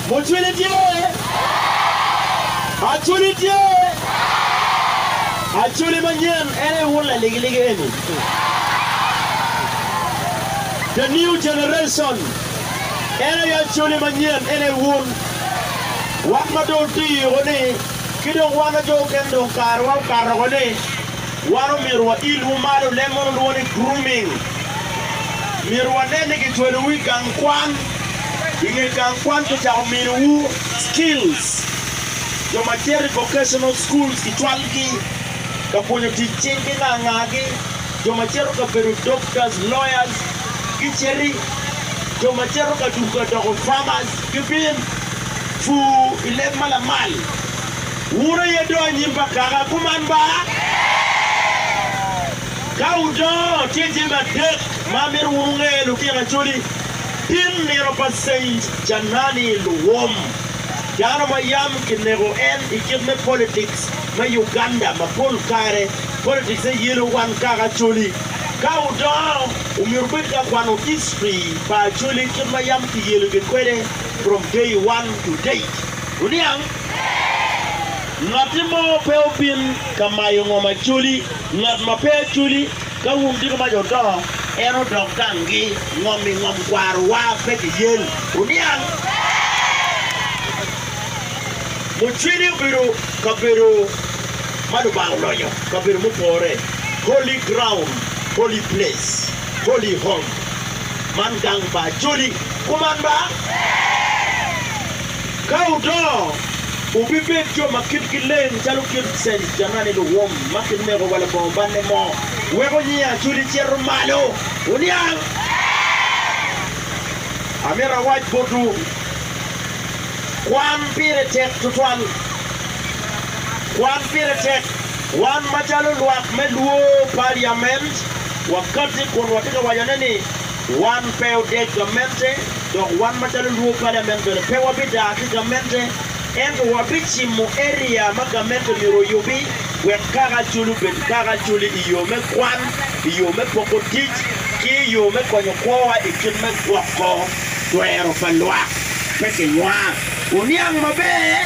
Mucwini tye? Aculi tye? Aculi manyen en aye wun laligiligi eni. The new generation en aye aculi manyen en aye wun. Wat ma dong oti yuko ni ki dong wan ajo kene dong karewa okato oko ni. Wan omyero wailwu malo, leb moni olwongo ni grooming. Myero wanen ni kicwelowu i gang kwan. I nge gang kwan kicako miniwu skills. Jo ma cito i vocational schools kicwalgi ka pwonyo tic cing ki nga ngagi. Jo ma cito ka bedo doctors, lawyers giciti. Jo ma cito ka duku ka doko farmers gibin. Pur i leb ma lamal. Wun aye dong anyim pa Kaka kuman ba? Ka wudongo, tye jami adek ma amito wun wunge, Lutino Acholi, tim nino pa Saint Janani Luwom, dano ma yam kineko en i kit me politics me Uganda ma pol kare politics ne yelo wan Kaka Acholi. Ka wudongo, wumyero wubed ka kwano history pa Acholi kit ma yam kiyeligi kwede from day one to date. Wuniang? Ngatti mo pe obin ka mayo ngom acoli, ngat ma pe acoli, ka wun diko mac odongo, en odok danggi, ngom i ngom kwarowa pe kiyel. Wuniang? Mucwini obedo kabedo ma Lubanga olonyo, kabedo mupore, holy ground, holy place, holy home. Man gang pa acoli. Kuman ba? Ka wudongo, wubibed jo ma kitgi leng calo kit Saint Germain luwum ma kineko wa Longongobanne mo, weko nying Acudi cito malo. Wuniang! Amito awac botwu, kwan pire tek tutwal. Kwan pire tek. Wan macalo lwak me lwor Paliament, wakati kun watye ka wacone ni, Wan pe odec gamente, dok wan macalo Luo Paliament bene pe wabidaa ki gamente, ento wabicimo eria ma gamente myero oyubi wek kaka acoli obed kaka acoli i yo me kwan, i yo me poko tic, ki i yo me konyo kwowa i kit me gwoko twero pa lwak. Pe kinywang. Wuniang maber.